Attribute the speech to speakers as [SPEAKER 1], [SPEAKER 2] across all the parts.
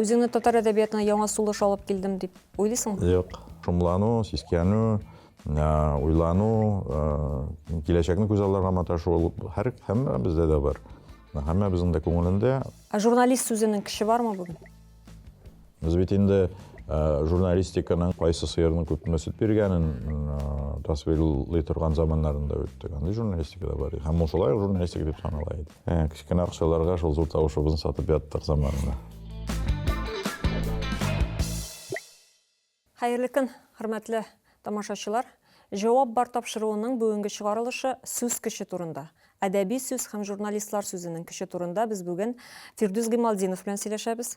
[SPEAKER 1] Үзеңне татар әдәбиятына яңа сулыш алып килдем дип уйлыйсыңмы? Юк. Шомлану,
[SPEAKER 2] сискәнү, уйлану, киләчәкне күз алларга маташу ул һәр һәммәбездә дә бар. Һәммәбезнең дә күңелендә. Ә журналист сүзенең
[SPEAKER 1] көче бармы бүген? Без
[SPEAKER 2] бит инде журналистиканың кайсы сыерның күпме сөт биргәнен тасвирлый торган заманнарны да үттек. Андый журналистика да бар иде. Һәм ул шулай ук журналистика дип санала иде. Ә, кечкенә акчаларга шул зур тавышыбызны сатып яттык заманында.
[SPEAKER 1] Хәерле көн, хөрмәтле тамашачылар! Җавап бар тапшыруының бүгенге чыгарылышы сүз көче турында. Әдәби сүз һәм журналистлар сүзенең көче турында без бүген Фирдүс Гыймалтдинов белән сөйләшәбез.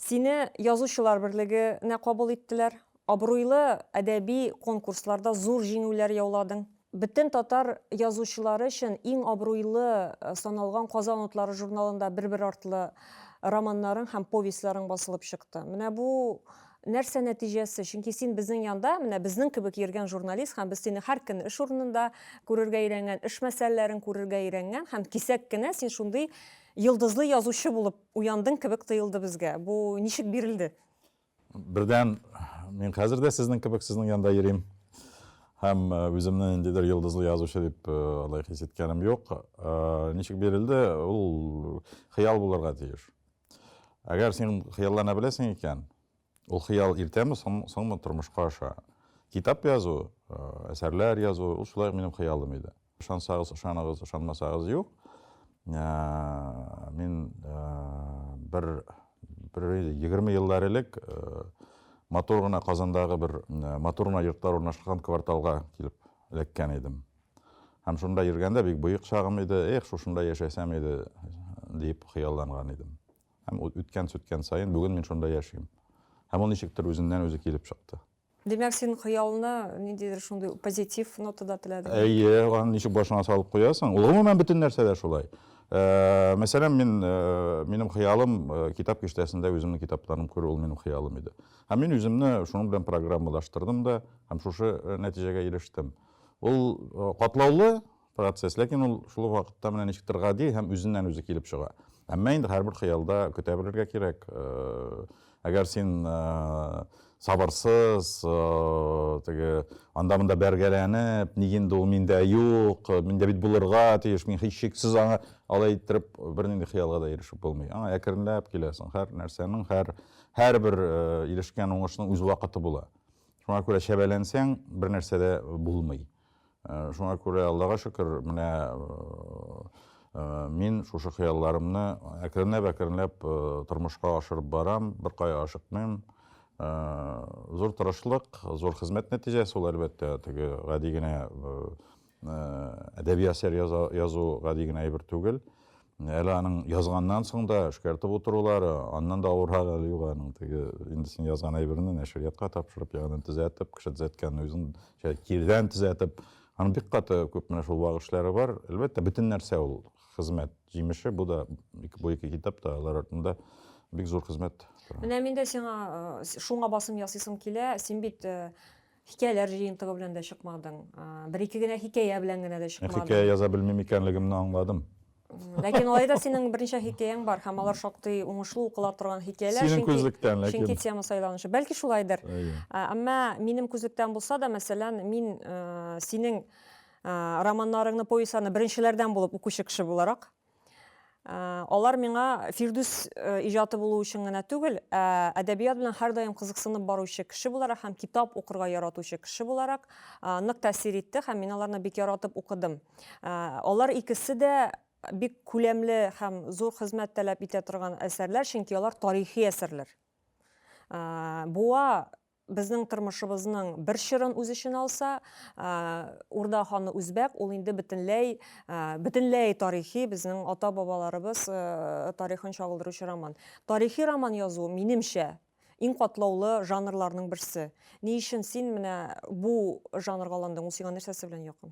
[SPEAKER 1] Сине Язучылар берлеге нә кабул иттеләр. Абруйлы әдәби конкурсларда зур җиңүләр яуладың. Бөтен татар язучылары өчен иң абруйлы саналган Казан утлары журналында бер-бер артлы романнарың һәм повестьларың басылып чыкты. Менә бу нәрсә нәтиҗәсе? Чөнки син безнең янда, менә безнең кебек йөргән журналист һәм без сине һәр көнне эш урынында күрергә өйрәнгән, эш мәсьәләләрен күрергә өйрәнгән һәм кисәк кенә син шундый йолдызлы язучы булып Уяндың кебек тоелды безгә. Бу ничек бирелде? Бердән,
[SPEAKER 2] мин хәзер дә сезнең кебек сезнең янда йөрим. Һәм э, үземне ниндидер йолдызлы язучы дип э, алай хис иткәнем юк. Э, ничек бирелде, ул хыял булырга тиеш. Әгәр син хыяллана беләсең икән, Ул хыял иртәме, соңмы тормышка аша? Китап язу, әсәрләр язу, ул шулай минем хыялым иде. Ышансагыз, ышаныгыз, ышанмасагыз юк. Мин бер 20 еллар элек матур гына Казандагы бер матур гына йортлар урнашкан кварталга килеп эләккән идем. Һәм шунда йөргәндә бик боек чагым иде, эх, шушында яшәсәм иде, дип хыялланган идем. Һәм ул үткән-сүткән саен бүген мин шунда яшим. Һәм ул ничектер үзеннән үзе килеп чыкты. Димәк, син
[SPEAKER 1] хыялны ниндидер шундый позитив нотада теләдең? Әйе, аны ничек башыңа
[SPEAKER 2] салып куясың? Ул гомумән бөтен нәрсәдә шулай. Э, мәсәлән, мин э, минем хыялым э, китап киштәсендә үземнең китапларым күрү ул минем хыялым иде. Һәм мин үземне шуның белән программалаштырдым да һәм шушы нәтиҗәгә ирештем. Ул катлаулы, Процесс, ләкин ул шул ук вакытта менә ничектер гади һәм үзеннән-үзе килеп чыга. Әмма инде һәрбер хыялда көтә белергә кирәк. Әгәр син сабырсыз, теге анда-монда бәргәләнеп, ник инде ул миндә юк, миндә бит булырга тиеш, мин һичшиксез аңа алай иттереп бернинди хыялга да ирешеп булмый. Аңа әкренләп киләсең. Һәр нәрсәнең, һәр һәрбер ирешкән уңышның үз вакыты була. Шуңа күрә чәбәләнсәң, бернәрсә дә булмый. Шуңа күрә, Аллага шөкер, менә мин шушы хыялларымны әкренләп-әкренләп тормышка ашырып барам, беркая ашыкмыйм. Зур тырышлык, зур хезмәт нәтиҗәсе ул, әлбәттә, теге гади генә әдәби әсәр язу гади генә әйбер түгел. Әле аның язганнан соң да эшкәртеп утырулары, аннан да авыррак әле юк аның теге инде син язган әйберне нәшриятка тапшырып, ягъни төзәтеп, кеше төзәткән үзен кирдән төзәтеп, аның бик каты күп менә шул вак эшләре бар. Әлбәттә, бөтен нәрсә ул хезмәт җимеше, бу да бу ике китап та алар артында бик зур хезмәт. Менә мин дә сиңа
[SPEAKER 1] шуңа басым ясыйсым килә. Син бит Хикәяләр җыентыгы белән дә чыкмадың. Бер-ике генә хикәя белән генә дә чыкмадың. Хикәя яза белмим
[SPEAKER 2] икәнлегемне аңладым. Ләкин алай
[SPEAKER 1] да синең берничә хикәяң бар һәм алар шактый уңышлы укыла торган хикәяләр. Синең күзлектән, ләкин.
[SPEAKER 2] Чөнки тема сайланушы. Бәлки
[SPEAKER 1] шулайдыр. Әмма минем күзлектән булса да, мәсәлән, мин синең романнарыңны, повестьларны беренчеләрдән булып укучы кеше буларак, Алар миңа Фирдүс иҗаты булу өчен генә түгел, ә әдәбият белән һәрдаим кызыксынып баручы кеше буларак һәм китап укырга яратучы кеше буларак нык тәэсир итте һәм мин аларны бик яратып укыдым. Алар икесе дә бик күләмле һәм зур хезмәт таләп итә торган әсәрләр, чөнки алар тарихи әсәрләр. Буа Безнең тормышыбызның бер чорын үз эченә алса, Урда ханы үзбәк, ул инде бөтенләй, бөтенләй тарихи, безнең ата-бабаларыбыз тарихын чагылдыручы роман. Тарихи роман язу, минемчә, иң катлаулы жанрларның берсе. Ни өчен син менә бу жанрга алындың, ул сиңа нәрсәсе белән якын?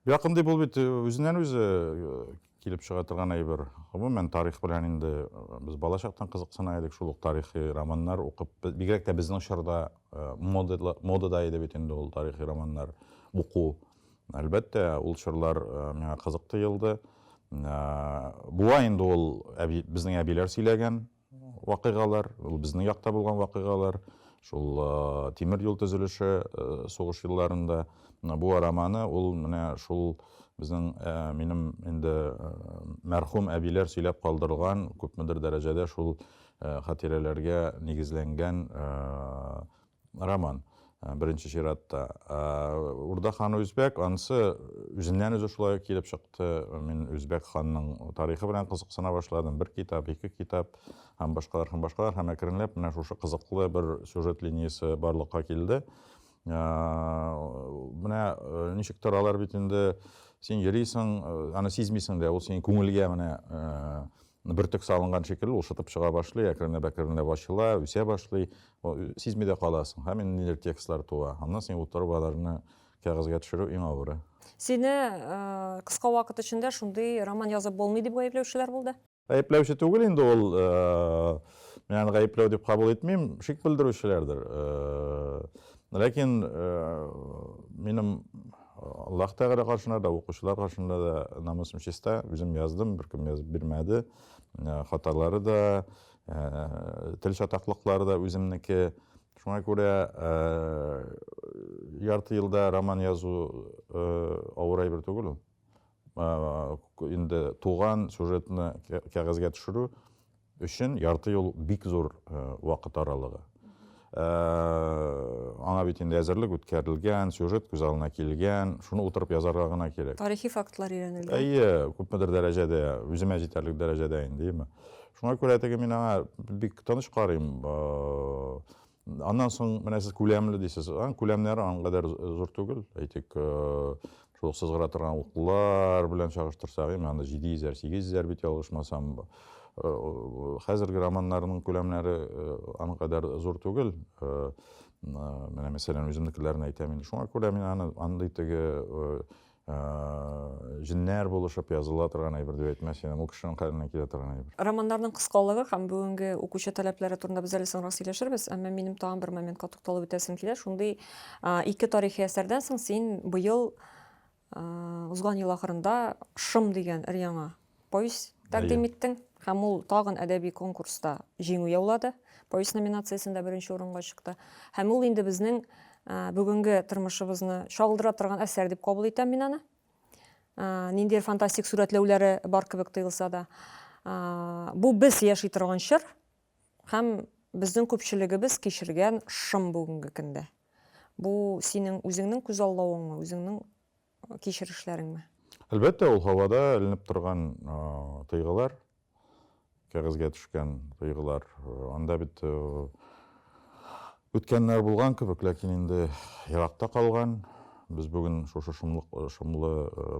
[SPEAKER 2] Якын дип ул бит э,
[SPEAKER 1] үзеннән-үзе
[SPEAKER 2] э, килеп чыга торган әйбер. Гомумән, тарих белән инде э, без балачактан кызыксына идек, шул ук тарихи романнар укып, бигрәк тә безнең чорда модада, модада иде бит инде ул тарихи романнар уку. Әлбәттә, ул чорлар миңа кызык тоелды. Буа инде ул әби, безнең әбиләр сөйләгән, вакыйгалар, ул безнең якта булган вакыйгалар, шул тимер юл төзелеше сугыш елларында бу араманы ул менә шул безнең минем инде мәрхүм әбиләр сөйләп калдырган күпмедер дәрәҗәдә шул хатирәләргә нигезләнгән Роман, э, беренче чиратта. Э, Урда ханы үзбәк, анысы үзеннән үзе шулай килеп чыкты. Мин үзбәк ханның тарихы белән кызыксына башладым. Бер китап, ике китап һәм башкалар һәм башкалар һәм әкренләп менә шушы кызыклы бер сюжет линиясе барлыкка килде. Э, менә ничек торалар бит инде син йөрисең, аны сизмисең дә, ул синең күңелгә менә Бөртек салынган шикелле, ул шытып чыга башлый, әкренләп-әкренләп ачыла, үсә башлый. Сизми дә каласың. Һәм инде ниләр текстлар туа. Аннан син утырып аларны кәгазьгә төшерү иң авыры. Сине
[SPEAKER 1] кыска вакыт эчендә шундый роман язып булмый дип гаепләүчеләр булды? Гаепләүче түгел
[SPEAKER 2] инде ул. Мин аны гаепләү дип кабул итмим. Шик белдерүчеләрдер. Ләкин минем Аллаһ Тәгалә каршында да, укучылар каршында да намусым чиста. Үзем яздым, беркем язып бирмәде. Хаталары да, тел чатаклыклары да үземнеке. Шуңа күрә ярты елда роман язу авыр әйбер түгел ул. Инде туган сюжетны кәгазьгә төшерү өчен ярты ел бик зур вакыт аралыгы. Аңа бит инде әзерлек үткәрелгән, сюжет күз алдына килгән, шуны утырып язарга гына кирәк. Тарихи фактлар өйрәнелгән.
[SPEAKER 1] Әйе, күпмедер
[SPEAKER 2] дәрәҗәдә, үземә җитәрлек дәрәҗәдә инде. Шуңа күрә теге мин аңа бик тыныч карыйм. Аннан соң менә сез күләмле дисез. Аның күләмнәре аның кадәр зур түгел. Әйтик, э, шул сызгыра торган уклар белән чагыштырсак, эми анда 700-ләр, 800-ләр бит ялгышмасам. Э, хәзерге романнарның күләмнәре э, аның кадәр зур түгел. Менә мәсәлән, үземнекеләрне әйтәм инде. Шуңа күрә мин аны андый теге җеннәр булышып языла торган әйбер дип әйтмәс идем, ул кешенең хәленнән килә торган әйбер. Романнарның кыскалыгы
[SPEAKER 1] һәм бүгенге укучы таләпләре турында без әле соңрак сөйләшербез, әмма минем тагын бер моментка тукталып үтәсем килә. Шундый ике тарихи әсәрдән соң син быел, узган ел ахырында Шым дигән өр-яңа повесть тәкъдим иттең һәм ул тагын әдәби конкурста җиңү яулады. Повесть номинациясендә беренче урынга чыкты. Һәм ул инде безнең бүгенге тормышыбызны чагылдыра торган әсәр дип кабул итәм мин аны. Ниндидер фантастик сурәтләүләре бар кебек тоелса да. Бу без яши торган чор һәм безнең күпчелегебез кичергән шым бүгенге көндә. Бу синең үзеңнең күзаллавыңмы, үзеңнең кичерешләреңме? Әлбәттә,
[SPEAKER 2] ул һавада эленеп торган тойгылар, кәгазьгә төшкән тойгылар. Анда бит үткәннәр булган кебек, ләкин инде еракта калган. Без бүген шушы шомлы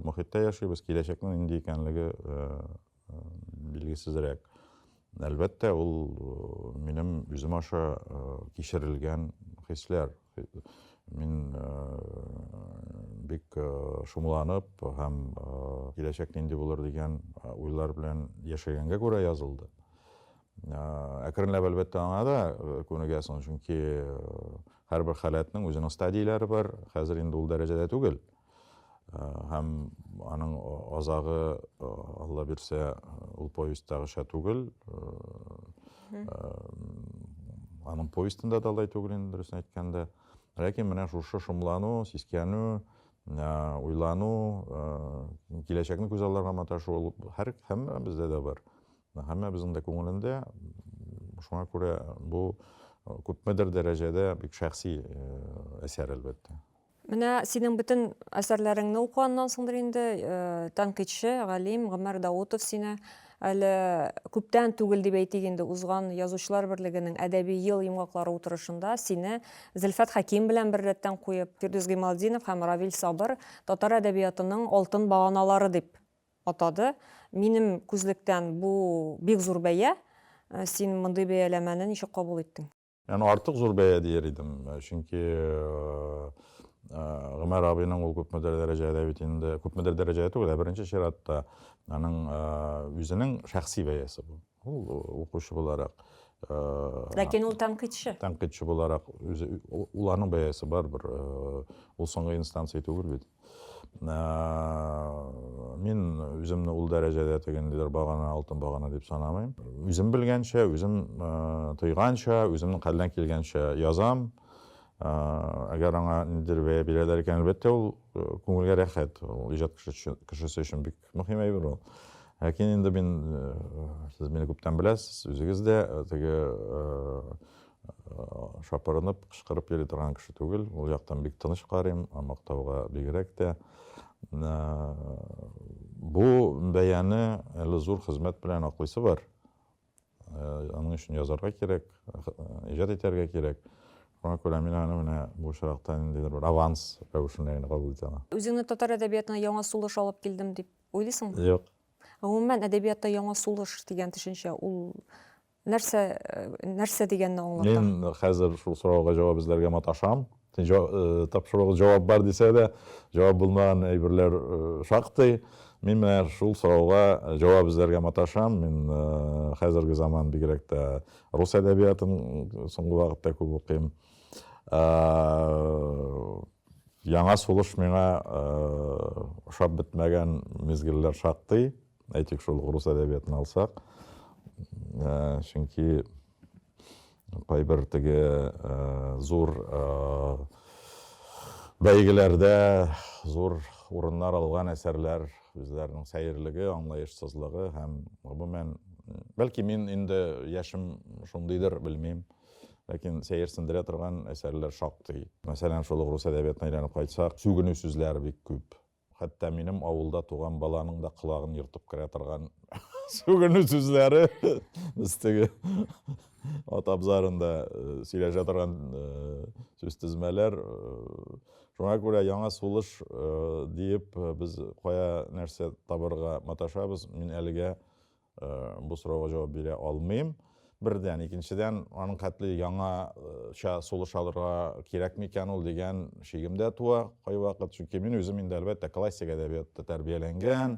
[SPEAKER 2] мохиттә яшибез, киләчәкнең нинди икәнлеге билгесезрәк. Әлбәттә, ул э, минем үзем аша э, кичерелгән хисләр. Мин э, бик шомланып һәм киләчәк нинди булыр дигән уйлар белән яшәгәнгә күрә язылды. Әкренләп әлбәттә аңа да күнегәсең, чөнки һәрбер халәтнең үзенең стадияләре бар. Хәзер инде ул дәрәҗәдә түгел. һәм аның азагы алла бирсә ул повестьтагыча түгел аның повестенда да алай түгел инде дөресен әйткәндә ләкин менә шушы шомлану сискәнү уйлану киләчәкне күз алларга маташу ул һәр һәммә бездә дә бар һәммәбезнең дә күңелендә шуңа күрә бу күпмедер дәрәҗәдә бик шәхси әсәр әлбәттә Менә синең
[SPEAKER 1] бөтен әсәрләреңне укыганнан соңдыр инде э, тәнкыйтьче, галим Гомәр Даутов сине әле күптән түгел дип әйтик инде узган язучылар берлегенең әдәби ел йомгаклары утырышында сине Зөлфәт Хәким белән бер рәттән куеп, Фирдүс Гыймалтдинов һәм Равил Сабыр татар әдәбиятының алтын баганалары дип атады. Минем күзлектән бу бик зур бәя. Э, син мондый бәяләмәне ничек кабул
[SPEAKER 2] иттең?
[SPEAKER 1] Яны
[SPEAKER 2] артык зур
[SPEAKER 1] бәя
[SPEAKER 2] дияр идем, чөнки Гомәр абыйның ул күпмедер дәрәҗәдә бит инде, күпмедер дәрәҗәдә түгел, ә беренче чиратта аның үзенең шәхси бәясе бу. Ул укучы буларак.
[SPEAKER 1] Ләкин ул тәнкыйтьче. Тәнкыйтьче буларак
[SPEAKER 2] үзе уларның бәясе бар бер. Ул соңгы инстанция түгел бит. Мин үземне ул дәрәҗәдә тегендидер багана, алтын багана дип санамыйм. Үзем белгәнчә, үзем тойганча, үземнең хәлдән килгәнчә язам. Әгәр аңа ниндидер бәя бирәләр икән, әлбәттә, ул күңелгә рәхәт. Ул иҗат кешесе өчен бик мөһим әйбер ул ләкин инде мин сез мине күптән беләсез үзегез дә теге шапырынып кычкырып йөри торган кеше түгел ул яктан бик тыныч карыйм мактауга бигрәк тә бу бәяне әле зур хезмәт белән аклыйсы бар Аның өчен язарга кирәк, иҗат итәргә кирәк. Шуңа күрә мин аны менә бу очракта ниндидер бер аванс рәвешендә генә кабул итәм. Үзеңне татар әдәбиятына
[SPEAKER 1] яңа сулыш алып килдем дип уйлыйсыңмы? Юк.
[SPEAKER 2] Гомумән, әдәбиятта
[SPEAKER 1] яңа сулыш дигән төшенчә, ул нәрсә, нәрсә дигәнне аңлата? Мин хәзер шул
[SPEAKER 2] сорауга җавап эзләргә маташам. Тапшыруга җавап бар дисә дә, җавап булмаган әйберләр шактый. Мин менә шул сорауга җавап эзләргә маташам. Мин хәзерге заман, бигрәк тә рус әдәбиятын соңгы вакытта күп укыйм. Яңа сулыш миңа ошап бетмәгән мизгелләр шактый. Әйтик, шул рус әдәбиятын алсак. Чөнки кайбер теге э, зур э, бәйгеләрдә зур урыннар алган әсәрләр үзләренең сәерлеге аңлаешсызлыгы һәм гомумән бәлки мин инде яшем шундыйдыр белмим ләкин сәер сендерә торган әсәрләр шактый мәсәлән шул ук рус әдәбиятына әйләнеп кайтсак сүгенү сүзләре бик күп Хәтта минем авылда туган баланың да колагын ертып керә торган сүгенү сүзләре без теге ат абзарында сөйләшә торган сүз тезмәләр шуңа күрә яңа сулыш диеп без кая нәрсә табырга маташабыз мин әлегә Э, бу сорауга җавап бирә алмыйм бердән икенчедән аның хәтле яңача э, сулыш алырга кирәкме икән ул дигән шигем дә туа кайвакыт чөнки мин үзем инде әлбәттә классик әдәбиятта тәрбияләнгән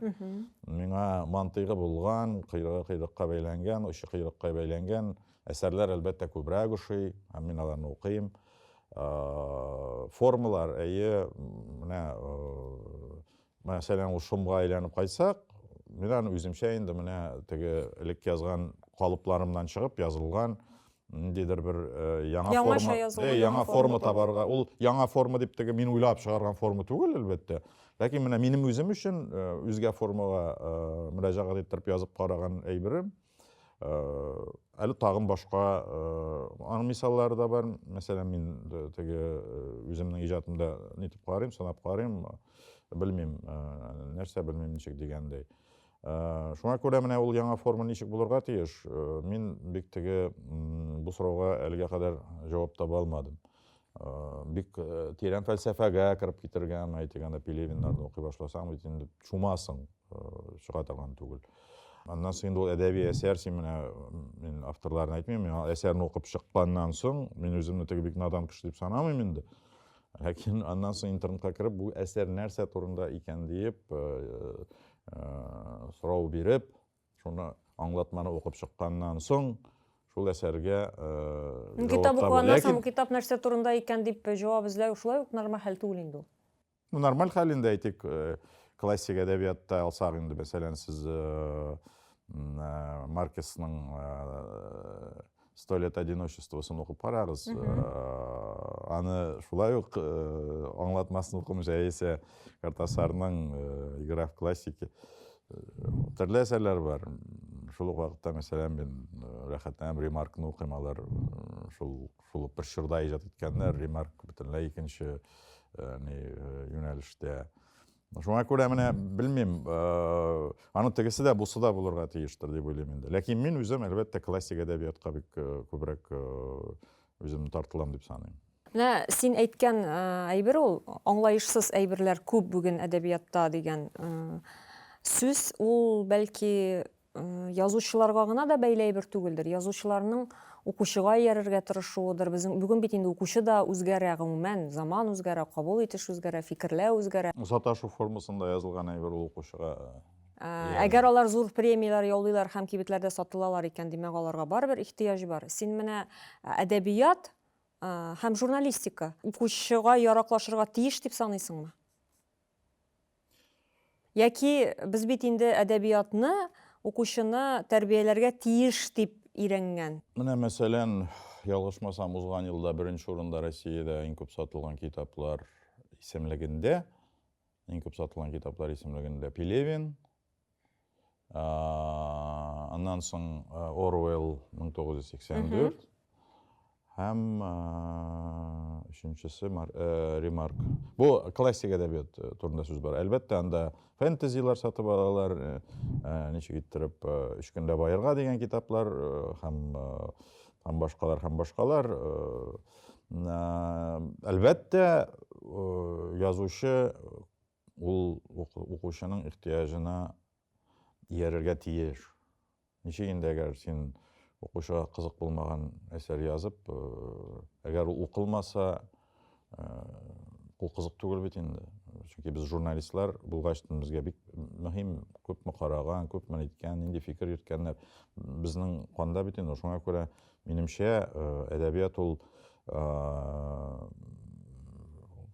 [SPEAKER 2] миңа мантыйгы булган койрыгы койрыкка бәйләнгән очы койрыкка бәйләнгән әсәрләр әлбәттә күбрәк ошый һәм мин аларны укыйм э, формалар әйе менә Мәсәлән, ул шомга әйләнеп кайтсак, мин аны үземчә инде менә теге элек язган калыпларымнан чыгып язылган ниндидер бер э, яңа Яңаша форма, язылган э, яңа яңа форма форма табарга. Ул яңа форма дип теге мин уйлап чыгарган форма түгел, әлбәттә. Ләкин менә минем үзем өчен э, үзгә формага э, мөрәҗәгать иттереп язып караган әйберем. әле тагын башка аның мисаллары да бар мәсәлән мин теге үземнең иҗатымда нитеп карыйм санап карыйм белмим нәрсә белмим ничек дигәндәй шуңа күрә менә ул яңа форма ничек булырга тиеш мин бик теге бу сорауга әлегә кадәр җавап таба алмадым Э, бик э, тирән фәлсәфәгә кереп китергән әйтик анда пелевиннарны укый башласаң бит инде чумасың э, чыга торган түгел аннан соң инде ул әдәби әсәр син менә мин авторларын әйтмим мин әсәрне укып чыкканнан соң мин үземне теге бик надан кеше дип санамыйм инде ләкин аннан соң интернетка кереп бу әсәр нәрсә турында икән диеп сорау биреп Шуны аңлатманы укып чыкканнан соң, шул әсәргә җавап Китап
[SPEAKER 1] укыганнан соң, китап нәрсә турында икән дип җавап эзләү шулай ук нормаль хәл түгел инде ул. Ну, нормаль хәл
[SPEAKER 2] инде, әйтик, классик әдәбиятта алсак инде, мәсәлән, сез Маркесның сто лет одиночествосын укып карагыз аны шулай ук аңлатмасын укымы яисә картасарның игра в классики төрле әсәрләр бар шул ук вакытта мәсәлән мин рәхәтләнәм ремаркны укыйм алар шул шул ук бер чорда иҗат иткәннәр ремарк бөтенләй икенче юнәлештә Шуңа күрә менә белмим, аны тегесе дә, бусы да булырга тиештер дип уйлыйм инде. Ләкин мин үзем, әлбәттә, классик әдәбиятка бик күбрәк үземне тартылам дип саныйм. Менә син
[SPEAKER 1] әйткән әйбер ул, аңлаешсыз әйберләр күп бүген әдәбиятта дигән сүз, ул бәлки язучыларга гына да бәйле әйбер түгелдер. Язучыларның укучыга иярергә тырышуыдыр. Безнең бүген бит инде укучы да үзгәрә, гомумән, заман үзгәрә, кабул итеш үзгәрә, фикерләү үзгәрә. Саташу формасында
[SPEAKER 2] язылган әйбер ул укучыга иярми. Әгәр
[SPEAKER 1] алар зур премияләр яулыйлар һәм кибетләрдә сатылалар икән, димәк, аларга барыбер ихтыяҗ бар. Син менә әдәбият һәм журналистика укучыга яраклашырга тиеш дип саныйсыңмы? Яки без бит инде әдәбиятны укучыны тәрбияләргә тиеш дип өйрәнгән. Менә мәсәлән,
[SPEAKER 2] ялгышмасам, узган елда беренче урында Россиядә иң күп сатылган китаплар исемлегендә, иң күп сатылган китаплар исемлегендә Пелевин, Аннан соң Оруэлл 1984 һәм өченчесе Ремарк. Бу классик әдәбият турында сүз бара. Әлбәттә, анда фэнтезилар сатып алалар, ничек иттереп өч көндә баерга дигән китаплар һәм һәм башкалар һәм башкалар. Әлбәттә, язучы Ул укучының ихтыяҗына иярергә тиеш. Ничек инде әгәр син укучыга кызык булмаган әсәр язып, э, әгәр ул укылмаса, э, ул кызык түгел бит инде. Чөнки без журналистлар булгач, безгә бик мөһим, күпме караган, күпме әйткән, нинди фикер йөрткәннәр. Безнең канда бит инде. Шуңа күрә, минемчә, э, әдәбият ул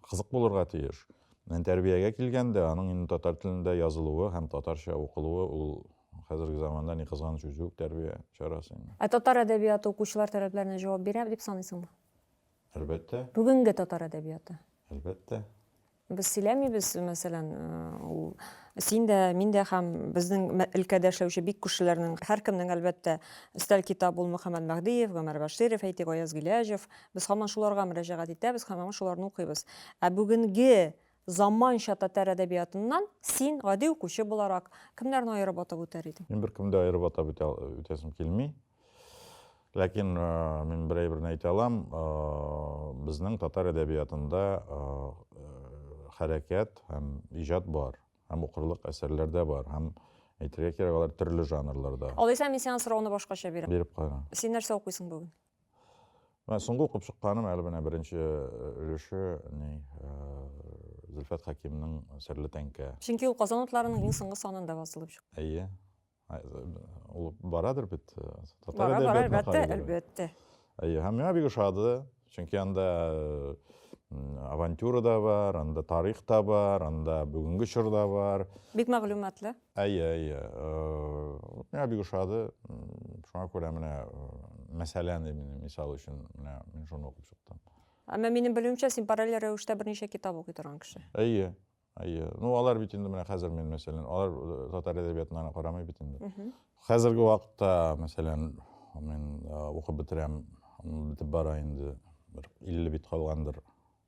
[SPEAKER 2] кызык булырга тиеш. Менә тәрбиягә килгәндә, аның инде татар телендә язылуы һәм татарча укылуы, ул хәзерге заманда, ни кызганыч, үзе үк тәрбия чарасы инде. Ә татар әдәбияты
[SPEAKER 1] укучылар таләпләренә җавап бирә дип саныйсыңмы? Әлбәттә.
[SPEAKER 2] Бүгенге татар
[SPEAKER 1] әдәбияты? Әлбәттә.
[SPEAKER 2] Без
[SPEAKER 1] сөйләмибез, мәсәлән, ул син дә, мин дә һәм безнең өлкәдә эшләүче бик күршеләрнең һәркемнең, әлбәттә, өстәл китабы ул Мөхәммәт Мәһдиев, Гомәр Бәширов, әйтик, Аяз Гыйләҗев, Без һаман шуларга мөрәҗәгать итәбез һәм һаман шуларны укыйбыз. Ә бүгенге заманча татар әдәбиятыннан син, гади укучы буларак, кемнәрне аерып атап үтәр идең? Мин беркемне дә аерып атап
[SPEAKER 2] үтә, үтәсем килми. Ләкин э, мин бер әйберне әйтә алам, э, безнең татар әдәбиятында э, хәрәкәт һәм иҗат бар, һәм укырлык әсәрләр дә бар, һәм әйтергә кирәк, алар төрле жанрларда. Алайса мин сиңа сорауны
[SPEAKER 1] башкача бирәм. Биреп кара. Син нәрсә
[SPEAKER 2] укыйсың бүген?
[SPEAKER 1] Менә
[SPEAKER 2] соңгы укып чыкканым әле менә беренче э, өлеше ни э, Зөлфәт Хәкимнең Серле тәңкә. Чөнки ул Казан утларының
[SPEAKER 1] иң соңгы санында басылып чыкты. Әйе.
[SPEAKER 2] Ул барадыр бит. Э, татар Бара, бара, әлбәттә,
[SPEAKER 1] әлбәттә. Әйе, һәм миңа
[SPEAKER 2] бик ошады. Чөнки анда авантюра да бар, анда тарих та бар, анда бүгенге чор да бар. Бик мәгълүматлы.
[SPEAKER 1] Әйе, әйе.
[SPEAKER 2] Миңа бик ошады. Шуңа күрә менә мәсәлән, мин мисал өчен менә мин шуны укып чыктым. Әмма минем белүемчә,
[SPEAKER 1] син параллель рәвештә берничә китап укый торган кеше. Әйе.
[SPEAKER 2] Әйе. Ну, алар бит инде менә хәзер мин мәсәлән, алар э, татар әдәбиятына гына карамый бит инде. Хәзерге вакытта, мәсәлән, мин э, укып бетерәм, бетеп бара инде, бер 50 бит калгандыр.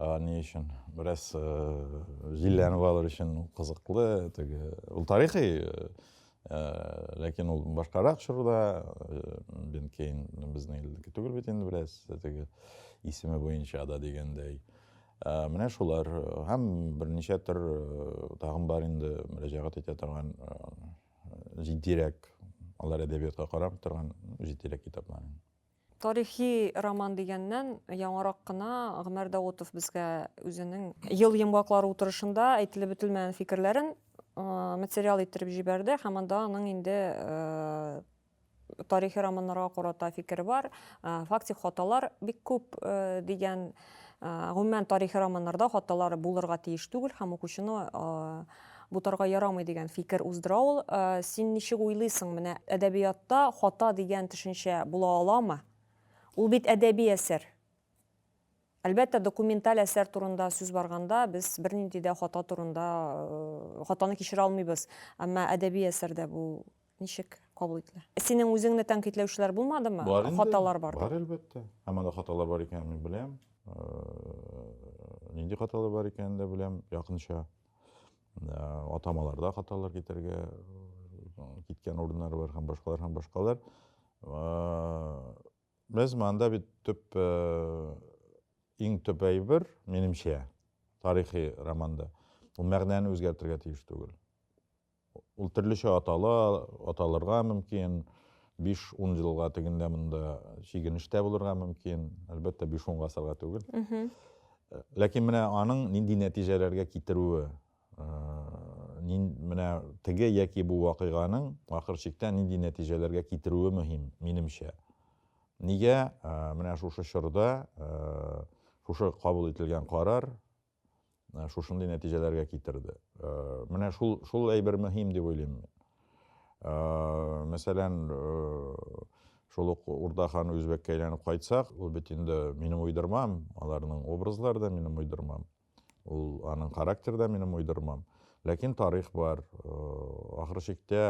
[SPEAKER 2] Ә, ни өчен? Бераз э, җилләнеп алыр өчен кызыклы, теге ул тарихи, э, э, ләкин ул башкарак чорда, бен Кейн безнең илдәге түгел бит инде бераз, теге исеме буенча да дигәндәй. Ә, менә шулар һәм берничә төр тагын бар инде мөрәҗәгать итә торган җитдирәк, алар әдәбиятка карап торган җитдирәк китаплар. Тарихи
[SPEAKER 1] роман дигәннән, яңарак кына Гомәр Даутов безгә үзенең Ел йомгаклары утырышында әйтелеп бетелмәгән фикерләрен материал иттереп җибәрде һәм анда аның инде тарихи романнарга карата фикере бар. Фактик хаталар бик күп дигән Гомумән, тарихи романнарда хаталар булырга тиеш түгел һәм укучыны бутарга ярамый дигән фикер уздыра ул. Син ничек уйлыйсың, менә әдәбиятта хата дигән төшенчә була аламы? Ул бит әдәби әсәр. Әлбәттә, документаль әсәр турында сүз барганда, без бернинди дә хата турында, хатаны кичерә алмыйбыз. Әмма әдәби әсәрдә бу ничек кабул ителә? Синең үзеңне тәнкыйтьләүчеләр булмадымы? Бар инде. Хаталар бар.
[SPEAKER 2] Бар әлбәттә.
[SPEAKER 1] Һәм
[SPEAKER 2] анда хаталар бар икәнен мин беләм. Нинди хаталар бар икәнен дә беләм, якынча. Атамаларда хаталар китәргә киткән урыннар бар һәм башкалар һәм башкалар. Без монда бит төп иң төп әйбер, минемчә, тарихи романда. Ул мәгънәне үзгәртергә тиеш түгел. Ул төрлечә атала, аталырга мөмкин. 5-10 елга тегендә монда чигенештә булырга мөмкин. Әлбәттә, 5-10 гасырга түгел. Ләкин менә аның нинди нәтиҗәләргә китерүе, менә теге яки бу вакыйганың ахыр чиктә нинди нәтиҗәләргә китерүе мөһим, минемчә. Нигә менә шушы чорда шушы кабул ителгән карар э, шушындый нәтиҗәләргә китерде. Э, менә шул шул әйбер мөһим дип уйлыйм мин. Э, мәсәлән, шул ук Урда хан үзбәккә әйләнеп кайтсак, ул бит инде минем уйдырмам, аларның образлары да минем уйдырмам. Ул аның характер да минем уйдырмам. Ләкин тарих бар. Ахыр чиктә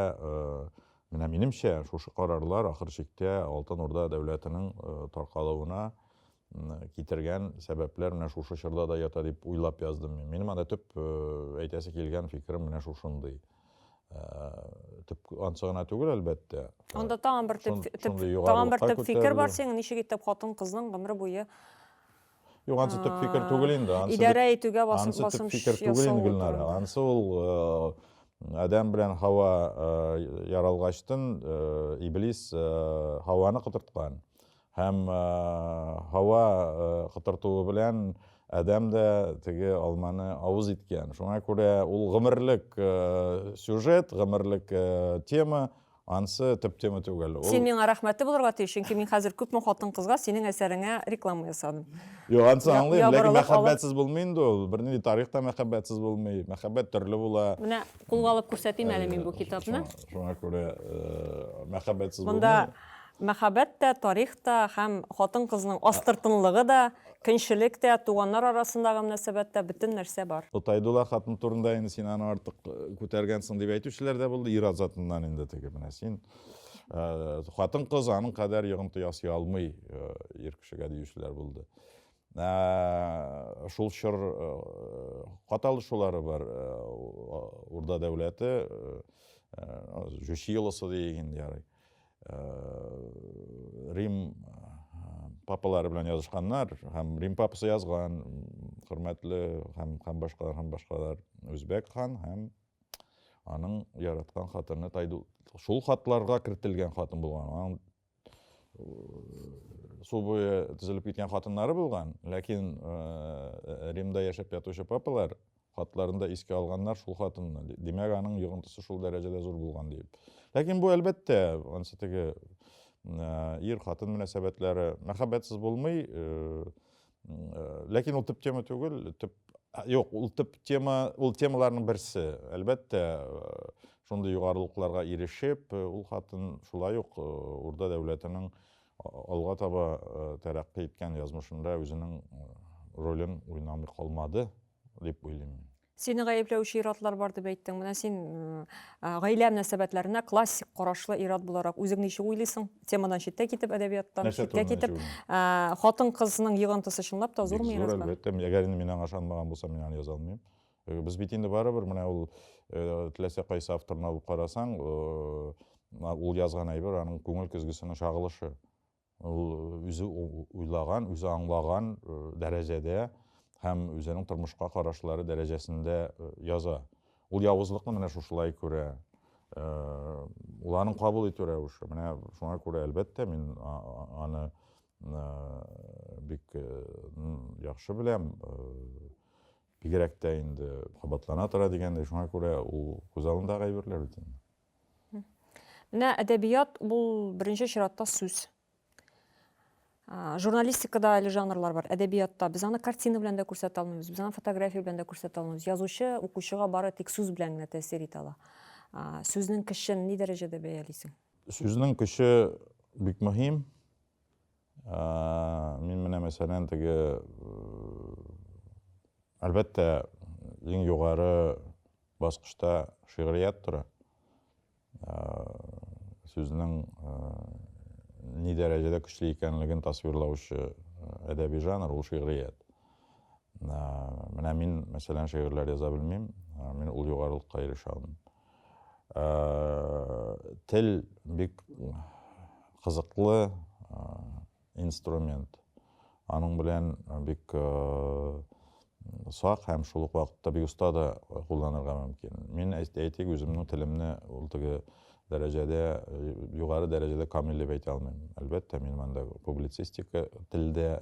[SPEAKER 2] Менә минемчә, шушы карарлар ахыр чиктә Алтын Урда дәүләтенең э, таркалуына китергән сәбәпләр менә шушы чорда да ята дип уйлап яздым мин. Минем анда төп э, әйтәсе килгән фикерем менә шушындый. Э, төп ансы гына түгел, әлбәттә. Анда тагын бер төп
[SPEAKER 1] тагын бер төп фикер бар синең, ничек итеп хатын кызның гомере буе Юк,
[SPEAKER 2] ансы төп фикер түгел инде. Идарә итүгә басым басым.
[SPEAKER 1] Ансы төп фикер түгел инде
[SPEAKER 2] Гөлнара. Ансы ул э, Адәм белән Хава э, яралгачтын э, Иблис э, Хаваны котырткан. Һәм һава котыртуы белән адәм дә теге алманы авыз иткән. Шуңа күрә ул гомерлек сюжет, гомерлек тема, ансы төп тема түгел. Син миңа рәхмәтле
[SPEAKER 1] булырга тиеш, чөнки мин хәзер күпме хатын-кызга синең әсәреңә реклама ясадым. Юк, ансы аңлыйм,
[SPEAKER 2] ләкин мәхәббәтсез булмый инде ул. Бернинди тарих та мәхәббәтсез булмый. Мәхәббәт төрле була. Менә кулга алып
[SPEAKER 1] күрсәтим әле мин бу китапны. Шуңа
[SPEAKER 2] күрә мәхәббәтсез булмый. Монда Мәхәббәт
[SPEAKER 1] тә, тарих та һәм хатын-кызның астыртынлыгы да, көнчелек тә, туганнар арасындагы мөнәсәбәт тә, бөтен нәрсә бар. Котайдулла хатын турында
[SPEAKER 2] инде син аны артык күтәргәнсең дип әйтүчеләр дә булды, ир-ат затыннан инде теге менә син, хатын-кыз аның кадәр йогынты ясый алмый ир кешегә диючеләр булды. Шул чор кат алышулары бар. Урда дәүләте, Җүчи елысы диик инде ярый. Рим папалары белән язышканнар, һәм Рим папасы язган, хөрмәтле һәм һәм башкалар һәм башкалар Үзбәк хан һәм аның яраткан хатыны Тайду. Шул хатларга кертелгән хатын булган. Аның су буе тезелеп киткән хатыннары булган, ләкин Римда яшәп ятучы папалар Хатларында искә алганнар шул хатынны. Димәк, аның йогынтысы шул дәрәҗәдә зур булган диеп. Ләкин бу, әлбәттә, ансы теге ир хатын мөнәсәбәтләре мәхәббәтсез булмый. Ләкин ул төп тема түгел, төп Юк, ул төп тема, ул темаларның берсе. Әлбәттә, шундый югарылыкларга ирешеп, ул хатын шулай ук Урда дәүләтенең алга таба тәрәккый иткән язмышында үзенең ролен уйнамый калмады. дип уйлыйм мин. Сине гаепләүче
[SPEAKER 1] иратлар бар дип әйттең. Менә син гаилә мөнәсәбәтләренә классик карашлы ират буларак үзең ничек уйлыйсың? Темадан читтә китеп, әдәбияттан читтә китеп, хатын-кызның йогынтысы чынлап та зурмы ират? Зур, әлбәттә. Әгәр инде
[SPEAKER 2] мин аңа ышанмаган булсам, мин аны яза алмыйм. Без бит инде барыбер менә ул теләсә кайсы авторны алып карасаң, ул язган әйбер аның күңел көзгесенең чагылышы. Ул үзе уйлаган, үзе аңлаган дәрәҗәдә һәм үзенең тормышка карашлары дәрәҗәсендә яза. Ул явызлыкны менә шушылай күрә. Ул аның кабул итү рәвеше. Менә шуңа күрә, әлбәттә, мин аны бик яхшы беләм. Бигрәк тә инде кабатлана тора дигәндәй, шуңа күрә ул күз алдында әйберләр бит инде. Менә
[SPEAKER 1] әдәбият ул беренче чиратта сүз. Журналистикада әле жанрлар бар, әдәбиятта. Без аны картина белән дә күрсәтә алмыйбыз, без аны фотография белән дә күрсәтә алмыйбыз. Язучы укучыга бары тик сүз белән генә тәэсир итә ала. Сүзнең көчен ни дәрәҗәдә бәялисең? Сүзнең көче
[SPEAKER 2] бик мөһим. Ә, мин менә мәсәлән теге әлбәттә иң югары баскычта шигърият тора сүзнең ни дәрәҗәдә көчле икәнлеген тасвирлаучы әдәби жанр ул шигърият менә мин мәсәлән шигырьләр яза белмим мин ул югарылыкка ирешә алмыйм Тел бик кызыклы инструмент. Аның белән бик сак һәм шул ук вакытта бик оста да кулланырга мөмкин. Мин әйтик, үземнең телемне ул теге дәрәҗәдә, югары дәрәҗәдә камил дип әйтә алмыйм. Әлбәттә, мин монда публицистика телдә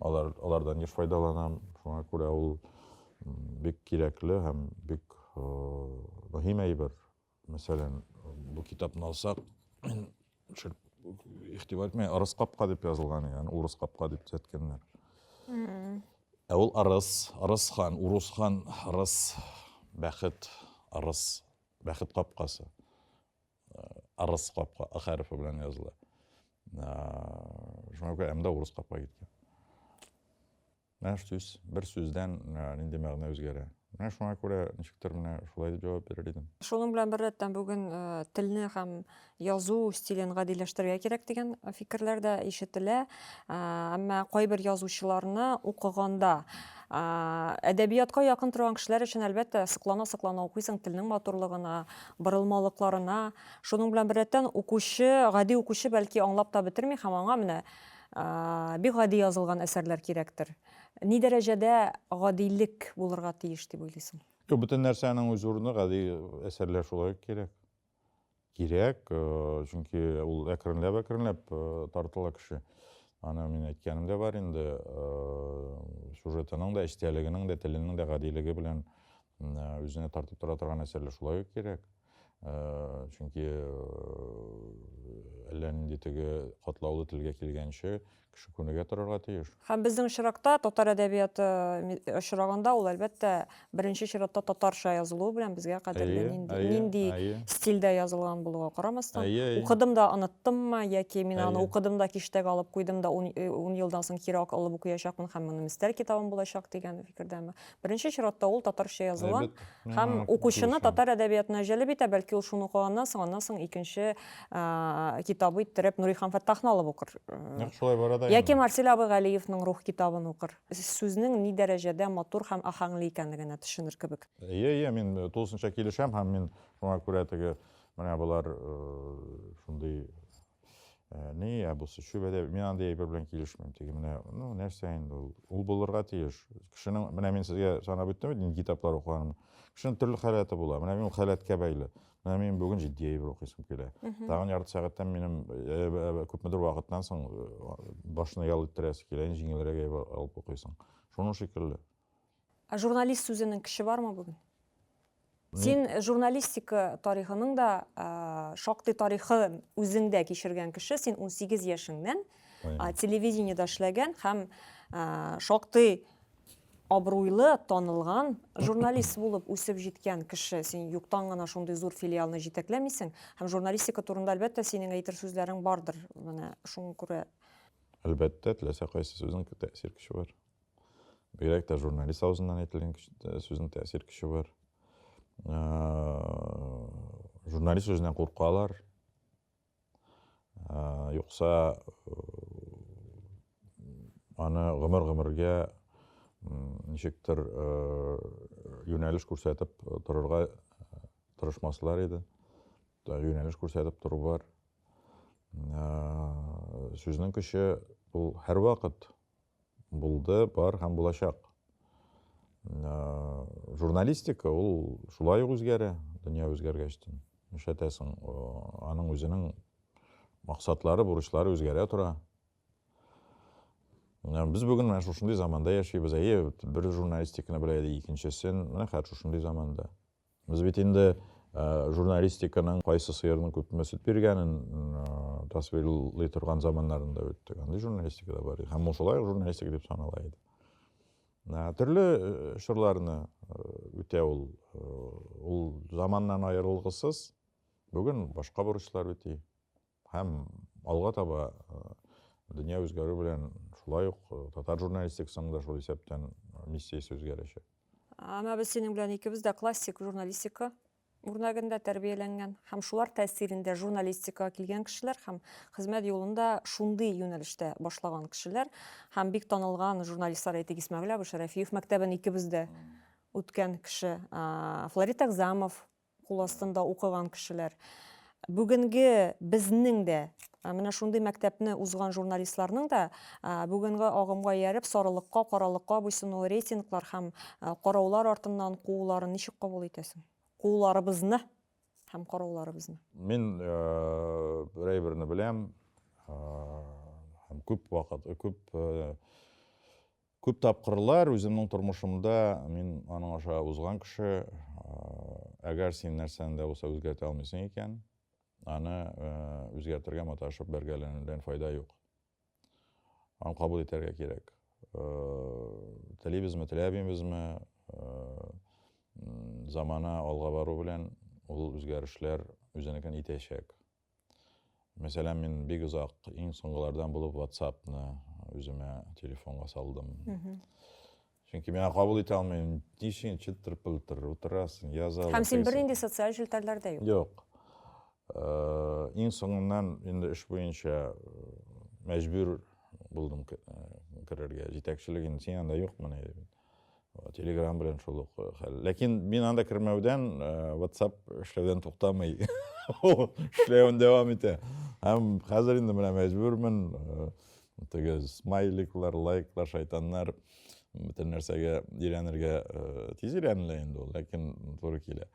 [SPEAKER 2] алар алардан еш файдаланам шуңа күрә ул бик кирәкле һәм бик мөһим әйбер мәсәлән бу китапны алсак игътибар итмә ырыс капка дип язылган икән урыс капка дип төзәткәннәр ә ул ырыс ырыс хан урус хан ырыс бәхет ырыс бәхет капкасы ырыс капка ы хәрефе белән языла шуңа күрә м да урыс капка киткән менә сүз бер сүздән нинди мәгънә үзгәрә менә шуңа күрә ничектер менә шулай дип җавап бирер идем шуның белән бер рәттән
[SPEAKER 1] бүген э, телне һәм язу стилен гадиләштерергә кирәк дигән фикерләр дә ишетелә э, әмма кайбер язучыларны укыганда э, әдәбиятка якын торган кешеләр өчен әлбәттә соклана соклана укыйсың телнең матурлыгына борылмалыкларына, шуның белән беррәттән укучы, гади укучы бәлки аңлап та бетерми һәм аңа менә бик гади язылган әсәрләр кирәктер. Ни дәрәҗәдә гадилек булырга тиеш дип уйлыйсың? Юк, бөтен нәрсәнең
[SPEAKER 2] үз урыны, гади әсәрләр шулай ук кирәк. Кирәк, чөнки ул әкренләп-әкренләп тартыла кеше. Аны мин әйткәнем дә бар инде, сюжетының да, эчтәлегенең дә, теленең дә гадилеге белән үзенә тартып тора торган әсәрләр шулай ук кирәк чөнки әллә нинди теге катлаулы телгә килгәнче кеше күнегә торырга тиеш һәм безнең очракта
[SPEAKER 1] татар әдәбияты очрагында ул әлбәттә беренче чиратта татарча язылуы белән безгә кадерле нинди нинди стильдә язылган булуга карамастан укыдым да оныттыммы яки мин аны укыдым да киштәгә алып куйдым да ун елдан соң кире алып укыячакмын һәм моны мистәр китабым булачак дигән фикердәме Беренче чиратта ул татарча языла Әлбәттә. һәм Миңа укучыны дөрес. татар әдәбиятына җәлеп итә, бәлки ул шуны укыганнан соң, аннан соң икенче а, китабы иттереп Нурихан Фәттахны алып укыр. Э, Нәкъ шулай бара да
[SPEAKER 2] Яки инде. Марсель абый Галиевның
[SPEAKER 1] Рух китабын укыр. Сүзнең ни дәрәҗәдә матур һәм ахаңлы икәнлегенә төшенер кебек. Ие, ие, мин э,
[SPEAKER 2] тулысынча килешәм һәм мин шуңа күрә теге менә болар э, шундый Ә, ни ә бусы чүбәдә мин андый әйбер белән килешмим теге менә ну нәрсә инде ул ул булырга тиеш кешенең менә мин сезгә санап үттем бит нинди китаплар укыганым кешенең төрле халәте була менә мин ул халәткә бәйле менә мин бүген җитди әйбер укыйсым килә тагын ярты сәгатьтән минем э, э, күпмедер вакыттан соң э, башны ял иттерәсе килә җиңелрәк әйбер алып укыйсың шуның шикелле Ә журналист
[SPEAKER 1] сүзенең кеше бармы бүген? Син журналистика тарихының да шактый тарихы үзеңдә кичергән кеше, син 18 яшеңнән телевидениедә эшләгән һәм шактый абруйлы, танылган журналист булып үсеп җиткән кеше. Син юктан гына шундый зур филиалны җитәкләмисең һәм журналистика турында әлбәттә синең әйтер сүзләрең бардыр. Менә шуңа күрә Әлбәттә,
[SPEAKER 2] теләсә кайсы сүзнең тәэсир көче бар. Бигрәк тә журналист авызыннан әйтелгән э, сүзнең тәэсир көче бар. Э, журналист сүзеннән куркалар. Э, юкса аны гомер-гомергә ничектер юнәлеш күрсәтеп торырга тырышмаслар иде. Юнәлеш күрсәтеп тору бар. Сүзнең көче ул һәрвакыт Булды, бар һәм булачак. Ә, журналистика ул шулай ук үзгәрә, дөнья үзгәргәчтен. Нишләтәсең, аның үзенең максатлары, бурычлары үзгәрә тора. Ә, без бүген менә шушындый заманда яшибез. Әйе, бер журналистиканы белә иде, икенчесен, менә хәзер шушындый заманда. Без бит инде журналистиканың кайсы сыерның күпме сөт биргәнен тасвирлый торган заманнарында үттек. Андый журналистика да бар иде. Һәм ул шулай ук журналистика дип санала иде. Төрле чорларны үтә ул. Ул заманнан аерылгысыз. Бүген башка бурычлар үти. Һәм алга таба дөнья үзгәрү белән шулай ук татар журналистикасының да шул исәптән миссиясе үзгәрәчәк. Ана без
[SPEAKER 1] синең белән икебез дә классик журналистика үрнәгендә тәрбияләнгән һәм шулар тәэсирендә журналистикага килгән кешеләр һәм хезмәт юлында шундый юнәлештә башлаган кешеләр һәм бик танылган журналистлар әйтик Исмәгыйль абый Шәрәфиев мәктәбен икебез дә үткән кеше Флорид Экзамов Кул астында укыган кешеләр. Бүгенге безнең дә менә шундый мәктәпне узган журналистларның да бүгенге агымга ияреп сарылыкка, каралыкка буйсынуы, рейтинглар һәм караулар артыннан кууларын ничек кабул итәсең? Кууларыбызны һәм карауларыбызны. Мин
[SPEAKER 2] бер әйберне беләм һәм күп вакыт, күп Күп тапкырлар үземнең тормышымда мин аның аша узган кеше, әгәр син нәрсәне дә булса үзгәртә алмыйсың икән, аны үзгәртергә маташып бәргәләнүдән файда юк. Аны кабул итәргә кирәк. Телибезме, теләбимезме, замана алга бару белән ул үзгәрешләр үзенекен итәчәк. Мәсәлән, мин бик озак, иң соңгылардан булып WhatsApp-ны үземә телефонга салдым. Чөнки миңа кабул итә алмыйм. Ничек чылтыр-пылтыр утырасың, язалар. Һәм син бернинди социаль
[SPEAKER 1] челтәрләрдә юк. Юк. Э,
[SPEAKER 2] иң соңыннан инде эш буенча э, мәҗбүр булдым э, керергә. Җитәкчелек инде син анда юкмы дип. Телеграм белән шул ук э, хәл. Ләкин мин анда кермәүдән э, WhatsApp эшләүдән туктамый. Эшләвен дәвам итә. Һәм хәзер инде менә мәҗбүрмен. Э, теге смайликлар, лайклар, шайтаннар бөтен нәрсәгә өйрәнергә тиз өйрәнелә инде ул, ләкин туры килә.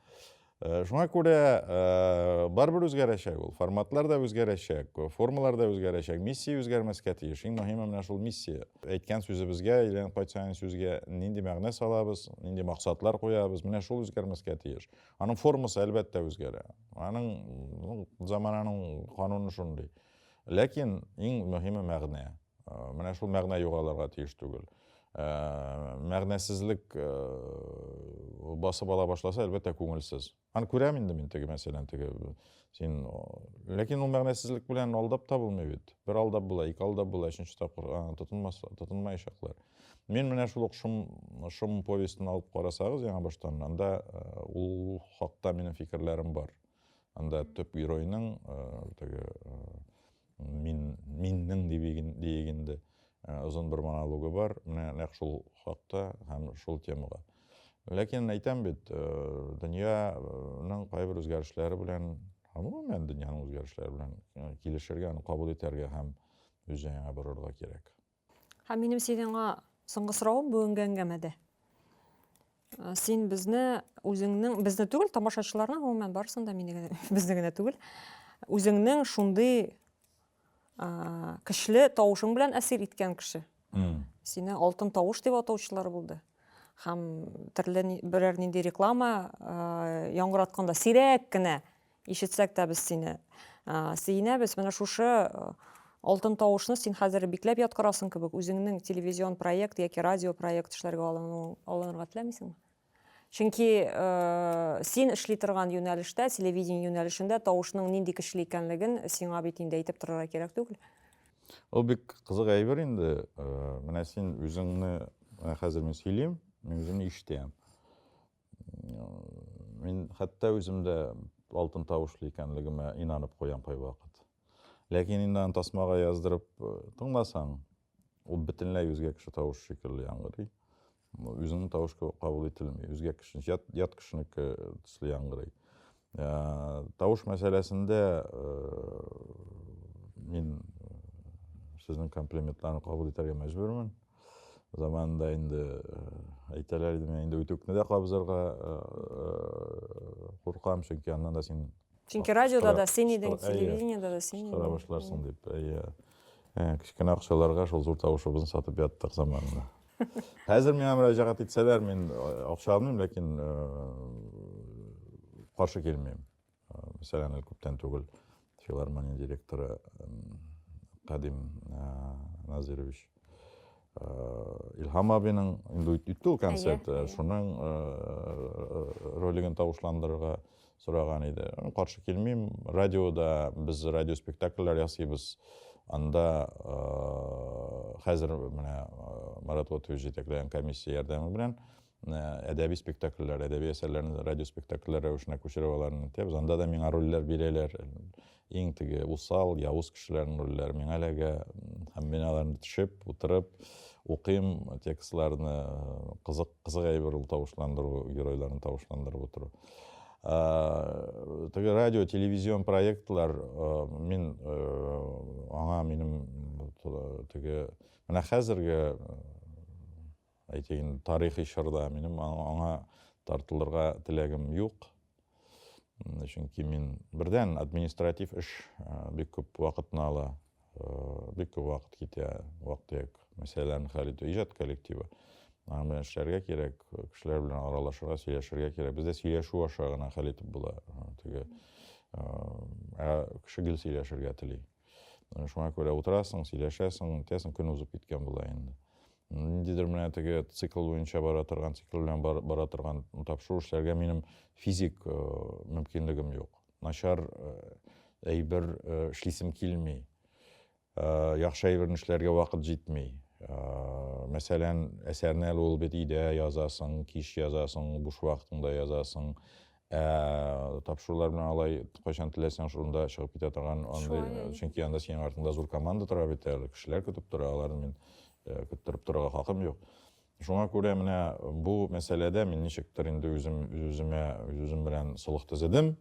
[SPEAKER 2] Э, шуңа күрә э, барыбер үзгәрәчәк ул форматлар да үзгәрәчәк формалар да үзгәрәчәк миссия үзгәрмәскә тиеш иң мөһиме менә шул миссия әйткән сүзебезгә әйләнеп кайтсаң сүзгә нинди мәгънә салабыз нинди максатлар куябыз менә шул үзгәрмәскә тиеш аның формасы әлбәттә үзгәрә аның замананың кануны шундый ләкин иң мөһиме мәгънә Менә шул мәгънә югалырга тиеш түгел. Мәгънәсезлек басып ала башласа, әлбәттә, күңелсез. Аны күрәм инде мин теге мәсәлән, теге син ләкин ул мәгънәсезлек белән алдап та булмый бит. Бер алдап була, ике алдап була, өченче тапкыр тотынмас, тотынмаячаклар. Мин менә шул ук шум, шум повестен алып карасагыз яңа баштан, анда ул хакта минем фикерләрем бар. Анда төп геройның теге мин миннең диеп инде озын бер монологы бар менә нәкъ шул хакта һәм шул темага ләкин әйтәм бит дөньяның кайбер үзгәрешләре белән гомумән дөньяның үзгәрешләре белән килешергә аны кабул итәргә һәм үз җаеңа борырга кирәк Һәм минем
[SPEAKER 1] сиңа соңгы соравым бүгенге әңгәмәдә. Э, син безне үзеңнең безне түгел, тамашачыларны гомумән барысын да мине генә безне генә түгел. Үзеңнең шундый э, көчле тавышың белән әсир иткән кеше. Сине алтын тавыш дип атаучылар булды. Һәм төрле берәр нинди реклама э, яңгыратканда сирәк кенә Ишетсәк тә без сине сөенәбез. Менә шушы алтын тавышны син хәзер бикләп яткырасың кебек, үзеңнең телевизион проект яки радио проект эшләргә алынырга теләмисеңме? Чөнки син эшли торган юнәлештә, телевидение юнәлешендә тавышның нинди көчле икәнлеген сиңа бит инде әйтеп торырга кирәк түгел. Ул бик
[SPEAKER 2] кызык әйбер инде. Менә син үзеңне хәзер мин сөйлим, мин үземне ишетәм. Мин хәтта үзем дә алтын тавышлы икәнлегемә инанып куям кайвакыт. Ләкин инде аны тасмага яздырып э, тыңласаң, ул бөтенләй үзгә кеше тавыш шикелле яңгырый. Үзеңнең тавыш кабул ителми, үзгә кеше, ят, ят кешенеке төсле яңгырый. Ә, тавыш мәсьәләсендә ә, мин сезнең комплиментларны кабул итәргә мәҗбүрмен. Заманында инде әйтәләр иде, мин инде үтүкне дә кабызырга куркам, чөнки аннан да син Чөнки радиода да син
[SPEAKER 1] идең, телевидениедә да син идең. Кара башларсың дип.
[SPEAKER 2] Әйе. Кечкенә акчаларга шул зур тавышыбызны сатып яттык заманында. Хәзер миңа мөрәҗәгать итсәләр, мин акча алмыйм, ләкин каршы килмим. Мәсәлән, күптән түгел филармония директоры Кадим Назирович Илһам абының инде үтте ул концерт, шуның ролигын тавышландырырга сораган иде. Каршы килмим. Радиода без радиоспектакльләр ясыйбыз. Анда э, хәзер менә э, Марат Лотович җитәкләгән комиссия ярдәме белән э, әдәби спектакльләр, әдәби әсәрләрне радиоспектакльләр рәвешенә күчереп аларны итәбез. Анда да миңа рольләр бирәләр. Иң теге усал, явыз кешеләрнең рольләре миңа эләгә. Һәм мин аларны төшеп, утырып, укыйм текстларны, кызык, кызык әйбер ул тавышландыру, геройларны тавышландырып утыру. Ә, теге радио, телевизион проектлар, мин аңа минем теге, менә хәзерге Әйтәйен, тарихи чорда минем аңа тартылырга теләгем юк. Чөнки мин бердән административ эш бик күп вакытны ала. Бик күп вакыт китә, вак-төяк мәсьәләләрне хәл итү, иҗат коллективы. Аның белән эшләргә кирәк, кешеләр белән аралашырга, сөйләшергә кирәк. Бездә сөйләшү аша гына хәл итеп була. Теге ә кеше гел сөйләшергә тели. Шуңа күрә утырасың, сөйләшәсең, үтәсең, көн узып киткән була инде. Ниндидер менә теге цикл буенча бара торган, цикл белән бара торган тапшыру эшләргә минем физик э, мөмкинлегем юк. Начар э, әйбер э, эшлисем килми. Яхшы әйберне эшләргә вакыт җитми. Мәсәлән, әсәрне әле ул бит өйдә язасың, кич язасың, буш вакытыңда язасың. Ә тапшырулар белән алай кайчан теләсәң шунда чыгып китә торган андый, чөнки анда синең артыңда зур команда тора бит әле, кешеләр көтеп тора, аларны мин э, көттереп торырга хакым юк. Шуңа күрә менә бу мәсьәләдә мин ничектер инде үзем үземә үзем белән солых төзедем.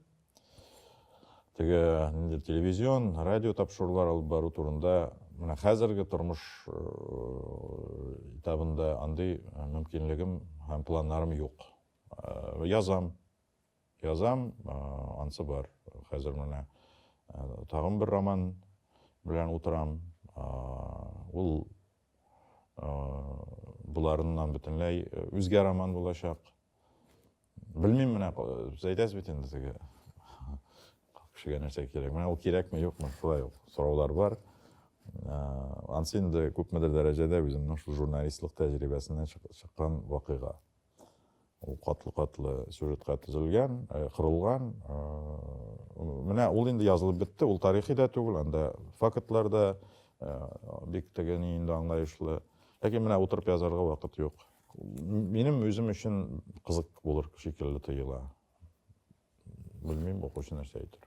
[SPEAKER 2] Теге инде телевизион, радио тапшырулар алып бару турында менә хәзерге тормыш э, этабында андый мөмкинлегем һәм планнарым юк. Э, язам, язам, э, ансы бар. Хәзер менә э, тагын бер роман белән утырам. Ул боларыннан бөтенләй үзгә роман булачак. Белмим менә, сез әйтәсез бит инде теге кешегә нәрсә кирәк. Менә ул кирәкме, юкмы, шулай ук сораулар бар. Ансы инде күпмедер дәрәҗәдә үземнең шул журналистлык тәҗрибәсеннән чыккан вакыйга. ул катлы-катлы сюжетка төзелгән, э, кырылган. Э, менә ул инде язылып бетте, ул тарихи да түгел, анда фактлар да э, бик теге ни инде аңлаешлы. Ләкин менә утырып язарга вакыт юк. Минем үзем өчен кызык булыр шикелле тоела. Белмим, укучы нәрсә әйтер.